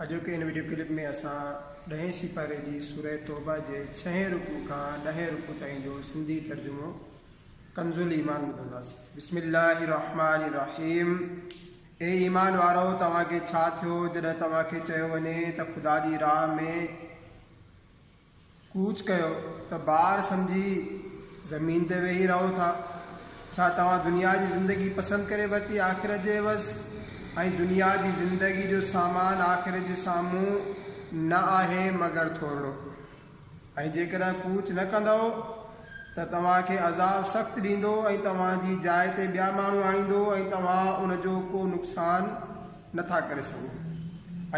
اڄوڪي هن video clip ۾ اسان ڏهين سيپاري جي سوره توبه جي ڇهين رڪوع کان ڏهين رڪوع تائين جو سنڌي ترجمو ڪنز الایمان ٻڌنداسين بسم الله الرحمن الرحيم اي ايمان وارو توهان کي ڇا ٿيو جڏهن توهان کي چيو وڃي ته خدا جي راهه ۾ ڪوچ ڪيو ته بار سمجهي زمين تي ويهي رهو ٿا. ڇا توهان دنيا جي زندگي پسند ڪري ورتي آخرت جي عيوض؟ ۽ دنيا جي زندگي جو سامان آخرت جي سامهون نه آهي مگر ٿورڙو. ۽ جيڪڏهن ڪوچ نه ڪندؤ. ته توهان کي عذاب سخت ڏيندو ۽ توهان جي جاء تي ٻيا ماڻهو آڻيندو ۽ توهان ان جو ڪو نقصان نه ٿا ڪري سگهو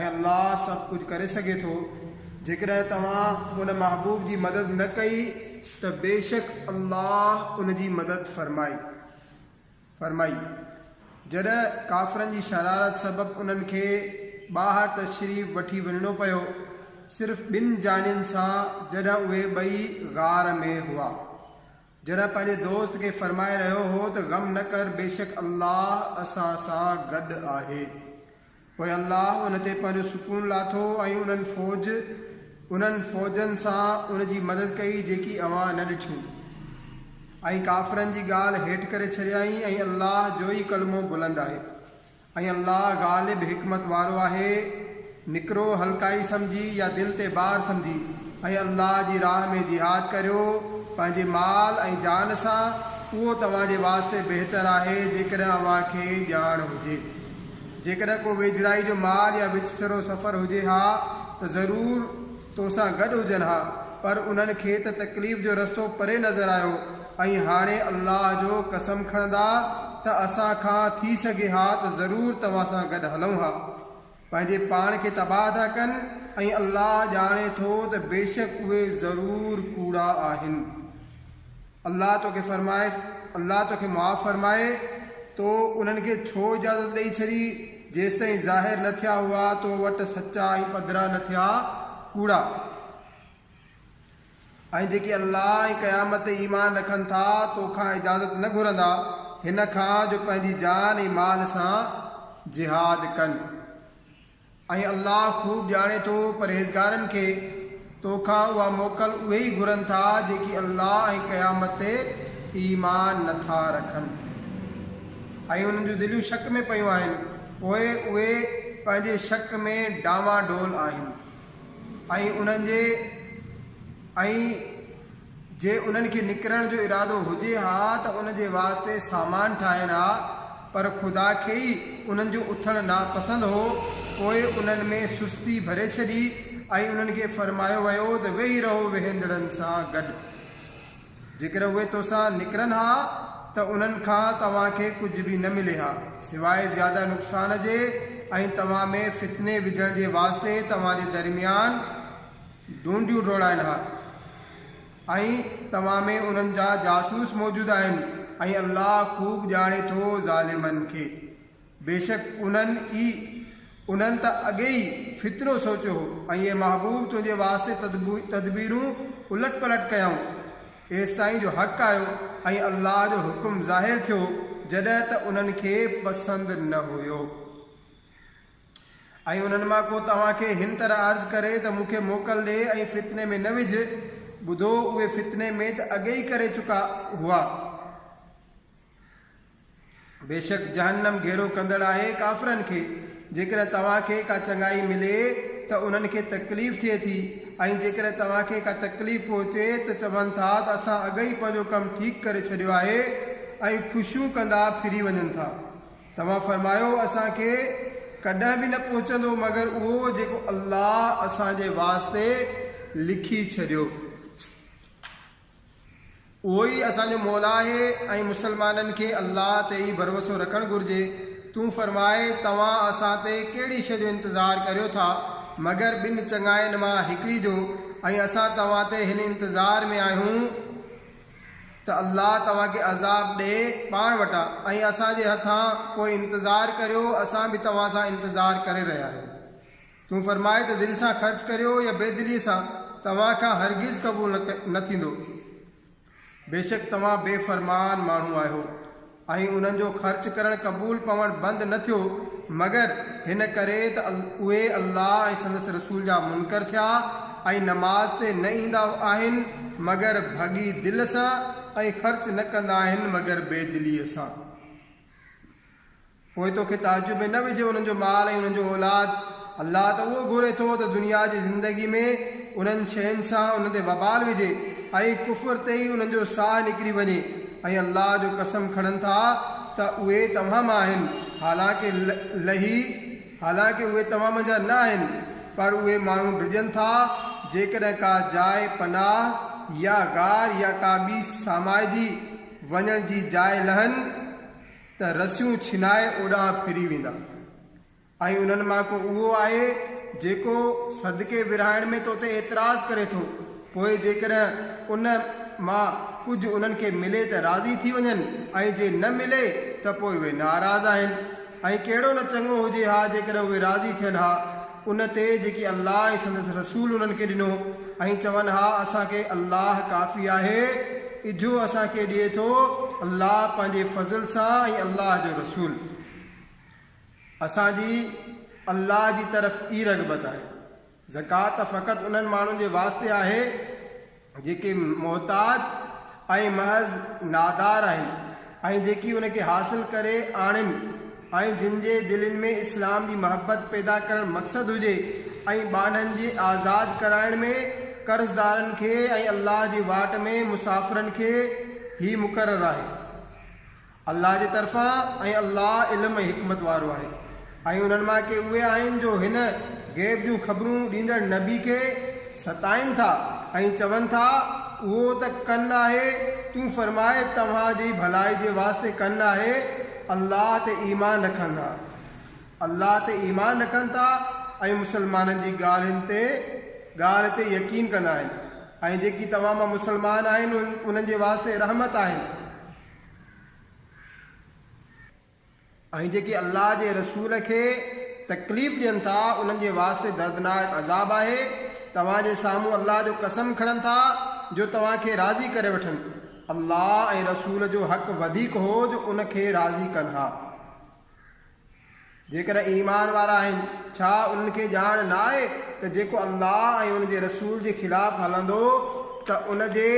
۽ الله سڀ ڪجهه ڪري سگهي ٿو جيڪڏهن توهان ان محبوب جي مدد نه ڪئي ته بيشڪ الله ان جي مدد فرمائي فرمائي، جڏهن ڪافرن جي شرارت سبب انهن کي ٻاهر تشريف وٺي وڃڻو پيو، صرف ٻن جانين سان جڏهن اهي ٻئي غار ۾ هئا. جڏهن پنهنجي دوست کي فرمائي رهيو هو ته غم نه ڪر بيشڪ الله اسان سان گڏ آهي. پوء الله ان تي پنهنجو سڪون لاٿو ۽ انهن فوج، انهن فوجن، سان ان جي مدد ڪئي جيڪي اوهان نه ڏٺيون ۽ ڪافرن جي ڳالهه هيٺ ڪري ڇڏيائين ۽ الله جو ئي ڪلمو بلند آهي ۽ الله غالب حڪمت وارو آهي نڪرو هلڪائي سمجهي يا دل تي بار سمجهي ۽ الله جي راهه ۾ جهاد ڪريو پنهنجي مال ۽ جان سان اهو توهان جي واسطي بهتر آهي جيڪڏهن اوهان کي ڄاڻ هجي. جيڪڏهن ڪو ويجهڙائي جو مال يا وچ سرو سفر هجي ها ته ضرور تو سان گڏ هجن ها، پر انهن کي ته تڪليف جو رستو پري نظر آيو ۽ هاڻي الله جو قسم کڻندا ته اسان کان ٿي سگهي ها ته ضرور توهان سان گڏ هلون ها. پنهنجي پاڻ کي تباهه ٿا ڪن ۽ الله ڄاڻي ٿو ته بيشڪ اهي ضرور ڪوڙا آهن. الله توکي فرمائي، الله توکي معاف فرمائي، تو انهن کي ڇو اجازت ڏئي ڇڏي، جيستائين ظاهر نه ٿيا هئا تو وٽ سچا ۽ پڌرا نه ٿيا ڪوڙا. ۽ جيڪي الله ۽ قيامت تي ايمان رکن ٿا تو کان اجازت نه گهرندا هن کان جو پنهنجي جان ۽ مال سان جهاد ڪن. ۽ الله خوب ڄاڻي ٿو پرهيزگارن کي، تو کان اها موڪل اهي ئي گهرن ٿا جيڪي الله ۽ قيامت تي ايمان نه ٿا رکن ۽ انهن جون دليون شڪ ۾ پيون آهن پوء اهي پنهنجي شڪ ۾ ڊانواڊول آهن ۽ انهن جي ۽ جي انهن کي نڪرڻ جو ارادو هجي ها ته ان جي واسطي سامان ٺاهين ها، پر خدا کي ئي انهن جو اٿڻ ناپسند هو، پوء انهن ۾ سستي ڀري ڇڏي ۽ انهن کي فرمايو ويو ته ويهي رهو ويهندڙن سان گڏ. جيڪڏهن اهي تو سان نڪرن ها ته انهن کان توهان کي ڪجهه به نه ملي ها، سواء زياده نقصان جي ۽ توهان ۾ فتني وجهڻ جي واسطي توهان جي درميان، ڍونڍيون ڊوڙائن ها ۽ توهان ۾ انهن جا جاسوس موجود آهن ۽ الله خوب ڄاڻي ٿو ظالمن کي. بيشڪ انهن ئي، انهن ته اڳي ئي، فتنو سوچيو هو ۽ اي محبوب! تنهنجي واسطي تدبيرون الٽ پلٽ ڪيائون، ايستائين جو حق آيو ۽ الله جو حڪم ظاهر ٿيو، جڏهن ته انهن کي پسند نه هيو. ۽ انهن مان ڪو توهان کي هن طرح عرض ڪري ته مون کي موڪل ڏي ۽ فتني ۾ نه وجهه، ٻڌو اهي فتني ۾ ته اڳي ئي ڪري چڪا هئا. بيشڪ جهنم گهيرو ڪندڙ آهي ڪافرن کي. جيڪڏهن توهان کي ڪا چڱائي ملي ته انهن کي تڪليف ٿئي ٿي ۽ جيڪڏهن توهان کي ڪا تڪليف پهچي ته چون ٿا ته اسان اڳ ئي پنهنجو ڪم ٺيڪ ڪري ڇڏيو آهي ۽ خوشيون ڪندا ڦري وڃن ٿا. توهان فرمايو اسان کي ڪڏهن به نه پهچندو مگر اهو جيڪو الله اسان جي واسطي لکي ڇڏيو. اهو ئي اسان جو مولا آهي ۽ مسلمانن کي الله تي ئي ڀروسو رکڻ گهرجي. تون فرماء توهان اسان تي ڪهڙي شيء جو انتظار ڪريو ٿا مگر ٻن چڱاين مان هڪڙي جو ۽ اسان توهان تي هن انتظار ۾ آهيون، ته الله توهان کي عذاب ڏئي پاڻ وٽان ۽ اسان جي هٿان، پوء انتظار ڪريو، اسان به توهان سان انتظار ڪري رهيا آهيون. تون فرماء ته دل سان خرچ ڪريو يا بي دليء سان توهان کان هرگز قبول نه ٿيندو. بيشڪ توهان بي فرمان ماڻهو آهيو. ۽ انهن جو خرچ ڪرڻ قبول پوڻ بند نه ٿيو مگر هن ڪري ته اهي الله ۽ سندس رسول جا منڪر ٿيا ۽ نماز تي نه ايندا آهن مگر ڀڳي دل سان ۽ خرچ نه ڪندا آهن مگر بي دليء سان پوء توکي تعجب ۾ نه وجهي انهن جو مال ۽ انهن جو اولاد الله ته اهو گهري ٿو ته دنيا جي زندگي ۾ انهن شين سان انهن تي وبال وجهي ۽ ڪفر تي ئي انهن جو ساهه نڪري وڃي ۽ الله جو قسم کڻن ٿا ته اهي توهان مان آهن حالانڪه لهي حالانڪه اهي توهان منجهان نه آهن پر اهي ماڻهو ڊڄن ٿا جيڪڏهن ڪا جاء پناهه يا غار يا ڪا ٻي سامائجي وڃڻ جي جاء لهن ته رسيون ڇنائي اوڏانهن ڦري ويندا. ۽ انهن مان ڪو اهو آهي جيڪو صدقي ورهائڻ ۾ تو تي اعتراض ڪري ٿو، پوء جيڪڏهن ان مان ڪجهه انهن کي ملي ته راضي ٿي وڃن ۽ جي نه ملي ته پوء اهي ناراض آهن ۽ ڪهڙو نه چڱو هجي ها جيڪڏهن اهي راضي ٿين ها ان تي جيڪي الله ۽ سندس رسول انهن کي ڏنو ۽ چون ها اسان کي الله ڪافي آهي اجهو اسان کي ڏئي ٿو الله پنهنجي فضل سان ۽ الله جو رسول. اسان جي الله جي طرف ئي رغبت آهي. زڪوات فقط انهن ماڻهن جي واسطي آهي جيڪي محتاج ۽ محض نادار آهن ۽ جيڪي ان کي حاصل ڪري آڻين ۽ جن جي دلين ۾ اسلام جي محبت پيدا ڪرڻ مقصد هجي ۽ ٻانهن جي آزاد ڪرائڻ ۾ قرضدارن کي ۽ الله جي واٽ ۾ مسافرن کي هي مقرر آهي. الله جي طرفان ۽ الله علم ۽ حڪمت وارو آهي ۽ انهن مان ڪي اهي آهن جو هن، غيب جون خبرون ڏيندڙ نبي، کي ستائين ٿا ۽ چون ٿا، اهو ته ڪن آهي، تون فرماء توهان جي ڀلائي جي واسطي ڪن آهي، الله تي ايمان رکن ها، الله تي ايمان رکن ٿا ۽ مسلمانن جي ڳالهين تي، ڳالهه تي، يقين ڪندا آهن ۽ جيڪي توهان مان مسلمان آهن انهن جي واسطي رحمت آهن. ۽ جيڪي الله جي رسول کي تڪليف ڏين ٿا انهن جي واسطي دردناڪ عذاب آهي، توهان جي سامهون الله جو قسم کڻن ٿا جو توهان کي راضي ڪري وٺن، الله ۽ رسول جو حق وڌيڪ هو جو ان کي راضي ڪن ها. جيڪڏهن ايمان وارا آهن، ڇا انهن کي ڄاڻ نه آهي ته جيڪو الله ۽ ان جي رسول جي خلاف هلندو ته ان جي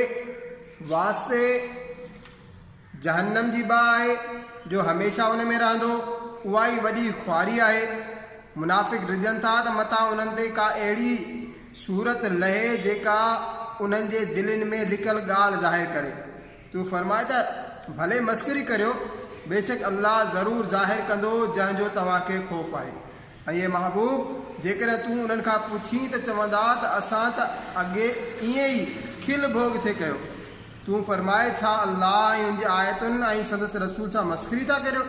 واسطي جهنم جي باهه آهي جو هميشه ان ۾ رهندو، اها ئي وڏي خواري آهي. منافق ڊڄن ٿا ته متان انهن تي ڪا اهڙي سورت لهي جيڪا انهن جي دلين ۾ لڪل ڳالهه ظاهر ڪري. تون فرماء ته ڀلي مسخري ڪريو، بيشڪ الله ضرور ظاهر ڪندو جنهن جو توهان کي خوف آهي. ۽ اي محبوب! جيڪڏهن تون انهن کان پڇين ته چوندا ته اسان ته اڳي ائين ئي کل ڀوڳ ٿي ڪيو. تون فرماء ڇا الله ۽ ان جي آيتن ۽ سندس رسول سان مسخري ٿا ڪريو؟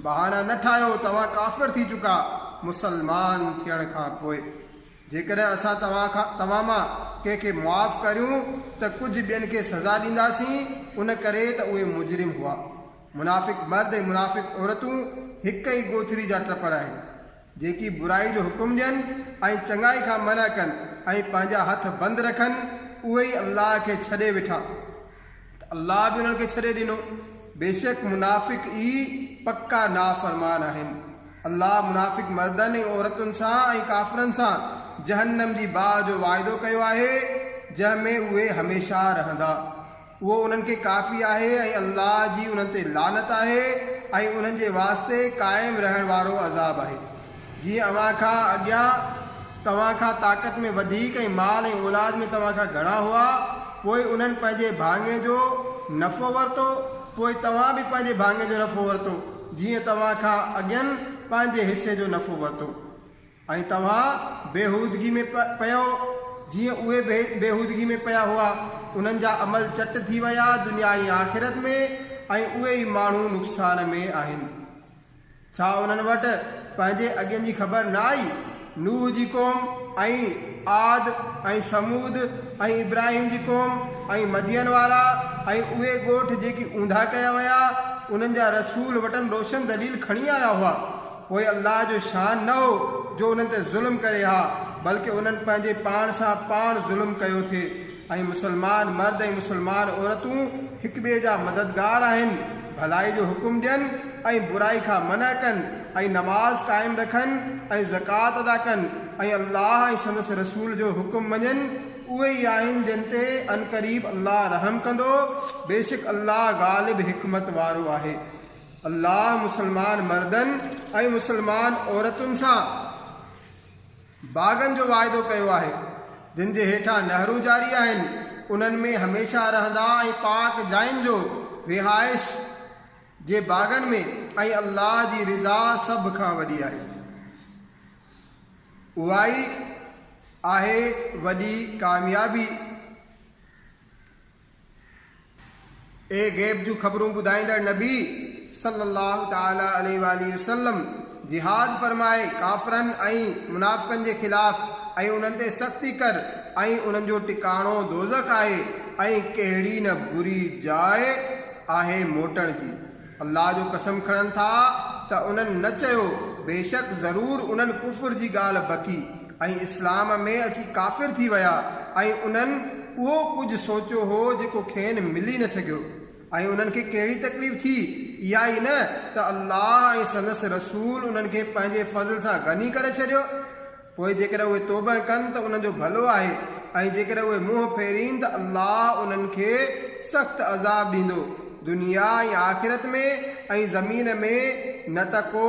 بهانا نه ٺاهيو توهان ڪافر ٿي چڪا مسلمان ٿيڻ کان پوء. جيڪڏهن اسان توهان کان، توهان مان، ڪنهن کي معاف ڪريون ته ڪجهه ٻين کي سزا ڏينداسين، ان ڪري ته اهي مجرم هئا. منافق مرد ۽ منافق عورتون هڪ ئي ڳوٿري جا ٽپڙ آهن. جيڪي برائي جو حڪم ڏين ۽ چڱائي کان منع ڪن ۽ پنهنجا هٿ بند رکن، اهي ئي الله کي ڇڏي ويٺا. ته الله به انهن کي ڇڏي ڏنو، بيشڪ منافق ئي پڪا نافرمان آهن. الله منافق مردن ۽ عورتن سان ۽ ڪافرن سان جهنم جي باهه جو واعدو ڪيو آهي، جنهن ۾ اهي هميشه رهندا. اهو انهن کي ڪافي آهي ۽ الله جي انهن تي لعنت آهي ۽ انهن جي واسطي قائم رهڻ وارو عذاب آهي. جي اوهان کان اڳيان توهان کان طاقت ۾ وڌيڪ ۽ مال ۽ اولاد ۾ توهان کان گهڻا هئا، پوء انهن پنهنجي ڀاڱي جو نفعو ورتو، پوء توهان به پنهنجي ڀاڱي جو نفعو ورتو، جيئن توهان کان اڳين پنهنجي حصي جو نفعو ورتو ۽ توهان بيهودگي ۾ پيئو، جيئن اهي به بيهودگي ۾ پيا هئا، انهن جا عمل چٽ ٿي ويا دنيا ۽ آخرت ۾، ۽ اهي ئي ماڻهو نقصان ۾ آهن. ڇا انهن وٽ پنهنجي اڳين جي خبر نه آئي؟ نوح جي قوم ۽ عاد ۽ ثمود ۽ ابراهيم جي قوم ۽ مدين وارا ۽ اهي ڳوٺ جيڪي اونڌا ڪيا ويا، انهن جا رسول وٽن روشن دليل کڻي آيا هئا. پوء الله جو شان نه هو جو انهن تي ظلم ڪري ها، بلڪ انهن پنهنجي پاڻ سان پاڻ ظلم ڪيو ٿي. ۽ مسلمان مرد ۽ مسلمان عورتون هڪٻئي جا مددگار آهن، ڀلائي جو حڪم ڏين ۽ برائي کان منع ڪن ۽ نماز قائم رکن ۽ زڪوات ادا ڪن ۽ الله ۽ سندس رسول جو حڪم مڃن، اهي ئي آهن جن تي عنقريب الله رحم ڪندو، بيشڪ الله غالب حڪمت وارو آهي. الله مسلمان مردن ۽ مسلمان عورتن سان. باغن جو واعدو ڪيو آهي، جن جي هيٺان نهرون جاري آهن، انهن ۾ هميشه رهندا ۽ پاڪ جاين جو رهائش جي باغن ۾ ۽ الله جي رضا سڀ کان وڏي آهي. اهائي آهي وڏي ڪاميابي اهي غيب جون خبرون ٻڌائيندڙ نبي صلّي اللّٰه تعالٰي عليه واٰله وسلّم جهاد فرمائي ڪافرن ۽ منافقن جي خلاف ۽ انهن تي سختي ڪر ۽ انهن جو ٽڪاڻو دوزخ آهي ۽ ڪهڙي نه بري جاء آهي موٽڻ جي. الله جو قسم کڻن ٿا ته انهن نه چيو، بيشڪ ضرور انهن ڪفر جي ڳالهه بڪي ۽ اسلام ۾ اچي ڪافر ٿي ويا ۽ انهن اهو ڪجهه سوچيو هو جيڪو کين ملي نه سگهيو ۽ انهن کي ڪهڙي تڪليف ٿي، اها ئي نه ته الله ۽ سندس رسول انهن کي پنهنجي فضل سان غني ڪري ڇڏيو. پوء جيڪڏهن اهي توبهه ڪن ته انهن جو ڀلو آهي ۽ جيڪڏهن اهي منهن ڦيرين ته الله انهن کي سخت عذاب ڏيندو دنيا ۽ آخرت ۾ ۽ زمين ۾ نه ته ڪو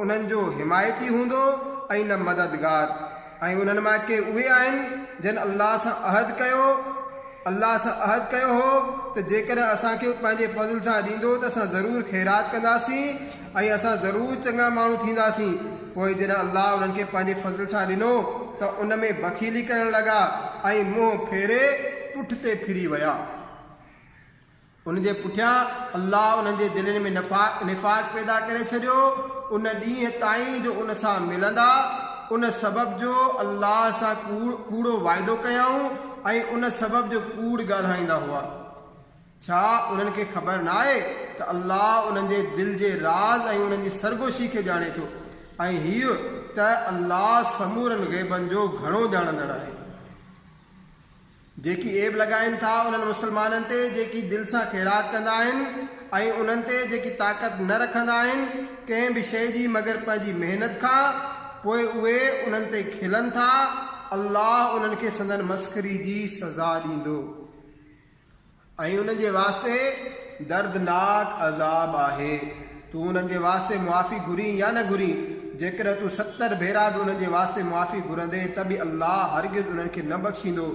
انهن جو حمايتي هوندو ۽ نه مددگار ۽ انهن مان ڪي اهي آهن جن الله سان عهد ڪيو الله سان عهد ڪيو هو ته جيڪڏهن اسان کي پنهنجي فضل سان ڏيندو ته اسان ضرور خيرات ڪنداسين. ۽ اسان ضرور چڱا ماڻهو ٿينداسين. پوء جڏهن الله انهن کي پنهنجي فضل سان ڏنو ته ان ۾ بخيلي ڪرڻ لڳا ۽ منهن ڦيري پٺتي ڦري ويا. ان جي پٺيان الله انهن جي دلين ۾ نفاق پيدا ڪري ڇڏيو ان ڏينهن تائين جو ان سان ملندا، ان سبب جو الله سان ڪوڙو وعدو ڪيائون ۽ ان سبب جو ڪوڙ ڳالهائيندا هئا. ڇا انهن کي خبر نه آهي ته الله انهن جي دل جي راز ۽ انهن جي سرگوشي کي ڄاڻي ٿو ۽ هيء ته الله سمورن غيبن جو گهڻو ڄاڻندڙ آهي. جيڪي عيب لڳائين ٿا انهن مسلمانن تي جيڪي دل سان خيرات ڪندا آهن ۽ انهن تي جيڪي طاقت نه رکندا آهن ڪنهن به شيء جي مگر پنهنجي محنت کان پوء اهي انهن تي کلن ٿا الله انهن کي سندن مسخري جي سزا ڏيندو. ۽ انهن جي واسطي دردناڪ عذاب آهي. تون انهن جي واسطي معافي گهرين يا نه گهرين، جيڪڏهن تون ستر ڀيرا به انهن جي واسطي معافي گهرندين ته به الله هرگز انهن کي نه بخشيندو.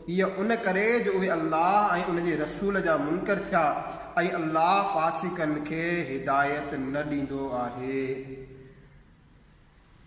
هيء ان ڪري جو اهي الله ۽ ان جي رسول جا منڪر ٿيا ۽ الله فاسقن کي هدايت نه ڏيندو آهي.